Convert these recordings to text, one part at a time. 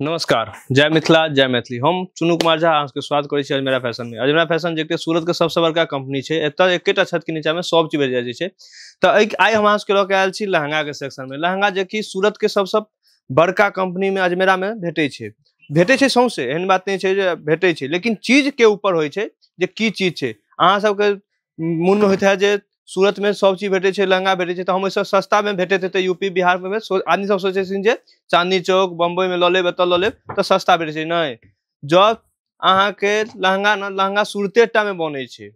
नमस्कार जय मिथिला जय मैथिली हम चुनू कुमार झा अहाँके स्वागत करै छी अजमेरा फैशन में अजमेरा फैशन जे सूरत के सबसे बड़का कंपनी छै एतऽ एकेटा छत के नीचा में सब चीज भेट जाइ छै तऽ एहि आइ हम अहाँ सबके लऽ के आयल छी लहंगा के सेक्शन में लहंगा जे कि सूरत के सबसे बड़का कंपनी में अजमेरा में भेटै छै भेटै छै सौंसे एहन बात नहि छै जे भेटै छै लेकिन चीज के ऊपर होइ छै जे की चीज छै अहाँ सबके मोनमे होइत है जे सूरतमे सब चीज भेटै छै लहंगा भेटै छै तऽ हम ओहिसँ सस्तामे भेटैत हेतै यू पी बिहारमे आदमी सब सोचै छथिन जे चाँदनी चौक बम्बइमे लऽ लेब एतऽ लऽ लेब तऽ सस्ता भेटै छै नहि जब अहाँके लहंगा ने लहंगा सूरते टामे बनै छै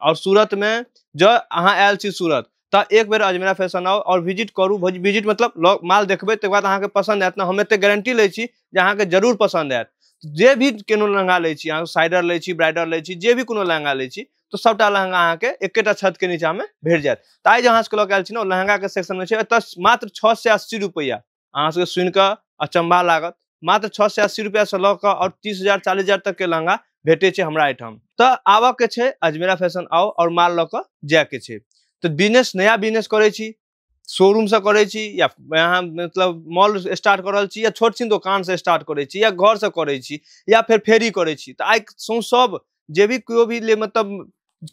आओर सूरतमे जँ अहाँ आयल छी सूरत तऽ एक बेर अजमेरा फैशन आउ आओर विजिट करू विजिट मतलब लॉग माल देखबै तकर बाद अहाँके पसन्द आयत ने हम एतेक गारंटी लै छी जे अहाँके जरूर पसन्द आयत जे भी कोनो लहंगा लै छी अहाँ साइडर लै छी ब्राइडर लै छी जे भी कोनो लहंगा लै छी तऽ सभटा लहंगा अहाँके एकेटा छतके नीचाँमे भेट जायत तऽ आइ जे अहाँ सभके लऽ कऽ आयल छी ने ओ लहंगाके सेक्शनमे छै एतय मात्र छओ सए अस्सी रुपैआ अहाँ सबके सुनि कऽ अचंभा लागत मात्र छओ सए अस्सी रुपया से लऽ कऽ आओर तीस हजार चालीस हजार तक के लहंगा भेटे छै हमरा एहिठाम तऽ आबऽ के छै अजमेरा फैशन आओ और माल लऽ कऽ जाय के छै तऽ बिजनेस नया बिजनेस करै छी शोरूम से करै छी या अहाँ मतलब मॉल स्टार्ट कर रहल छी या छोट छीन दोकान से स्टार्ट करै छी या घर से करै छी या फेर फेरी करै छी तऽ आइ सौं सब जे भी केओ भी ले मतलब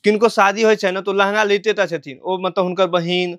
किनको शादी होइ छै ने तो लहंगा लेते टा छथिन ओ मतलब हुनकर बहिन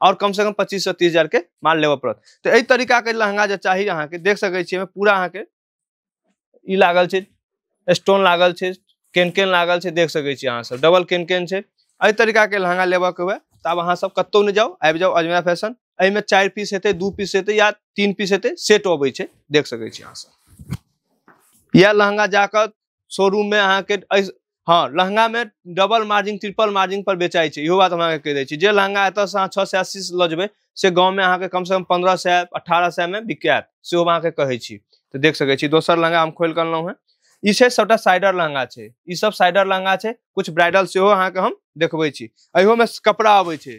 और कम से कम पच्चीस से तीस हजार के माल लेवे पड़त तो एहि तरीका के लहंगा जे चाही अहाँ के देख सके छी पूरा अहाँ के ई लागल छै स्टोन लागल छै केन केन लागल छै देख सके छी अहाँ सब डबल केन केन छै एहि तरीका के लहंगा लेबऽ के हुए तऽ आब अहाँ सब कतौ नहि जाउ आबि जाउ अजमेरा फैशन एहिमे चारि पीस हेतै दू पीस हेतै या तीन पीस हेतै सेट अबै छै देख सकै छी अहाँ सब इएह लहंगा जाकऽ शोरूम में अहाँ के एहि हँ लहंगामे डबल मार्जिन ट्रिपल मार्जिन पर बेचाइ छै इहो बात हम अहाँके कहि दै छी जे लहंगा एतऽसँ अहाँ छओ सए अस्सी लऽ जेबै से गाँवमे अहाँके कमसँ कम पन्द्रह सए अठारह सएमे बिकायत सेहो हम अहाँके कहै छी तऽ देख सकै छी दोसर लहंगा हम खोलि कऽ अनलहुँ हेँ ई छै सभटा साइडर लहंगा छै ई सब साइडर लहंगा छै कुछ ब्राइडल सेहो अहाँके हम देखबै छी अहियोमे कपड़ा अबै छै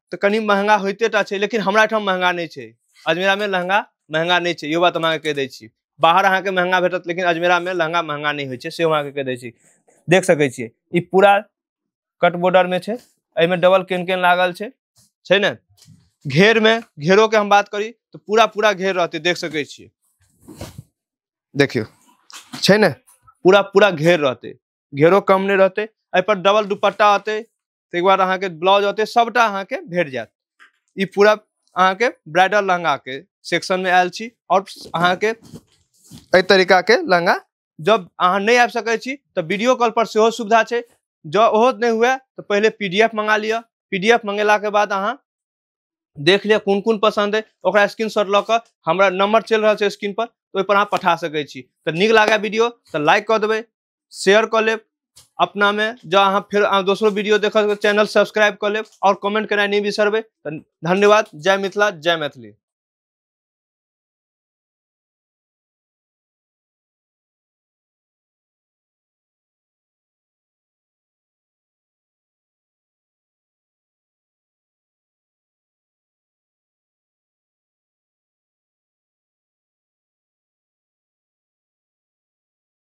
तऽ कनि महंगा होइते टा छै लेकिन हमरा एहिठाम महंगा नहि छै अजमेरामे लहंगा महंगा नहि छै इहो बात हम अहाँके कहि दै छी बाहर अहाँके महंगा भेटत लेकिन अजमेरामे लहंगा महंगा नहि होइ छै से हम अहाँके कहि दै छी देख सकै छियै ई पूरा कट बॉर्डरमे छै एहिमे डबल केन केन लागल छै छै ने घेरमे घेरोके हम बात करी तऽ पूरा पूरा घेर रहतै देख सकै छियै देखियौ छै ने पूरा पूरा घेर रहतै घेरो कम नहि रहतै एहिपर डबल दुपट्टा अतै ताहि दुआरे अहाँके ब्लाउज ओते सभटा अहाँके भेट जायत ई पूरा अहाँके ब्राइडल लहंगाके सेक्शनमे आयल छी आओर अहाँके एहि तरीकाके लहंगा जब अहाँ नहि आबि सकैत छी तऽ वीडियो कॉल पर सेहो सुविधा छै जँ ओहो नहि हुए तऽ पहिले पी डी एफ मंगा लिअ पी डी एफ मंगेलाके बाद अहाँ देख लिअ कोन कोन पसन्द अइ ओकरा स्क्रीन शॉट लऽ कऽ हमरा नम्बर चलि रहल छै स्क्रीन पर ओहिपर अहाँ पठा सकैत छी तऽ नीक लागए वीडियो तऽ लाइक कऽ देबै शेयर कऽ लेब अपना में जो अहाँ फिर अहाँ दोसरो वीडियो देख चैनल सब्सक्राइब कऽ लेब और कमेंट करना नहीं बिसरबे धन्यवाद जय मिथिला जय मैथिली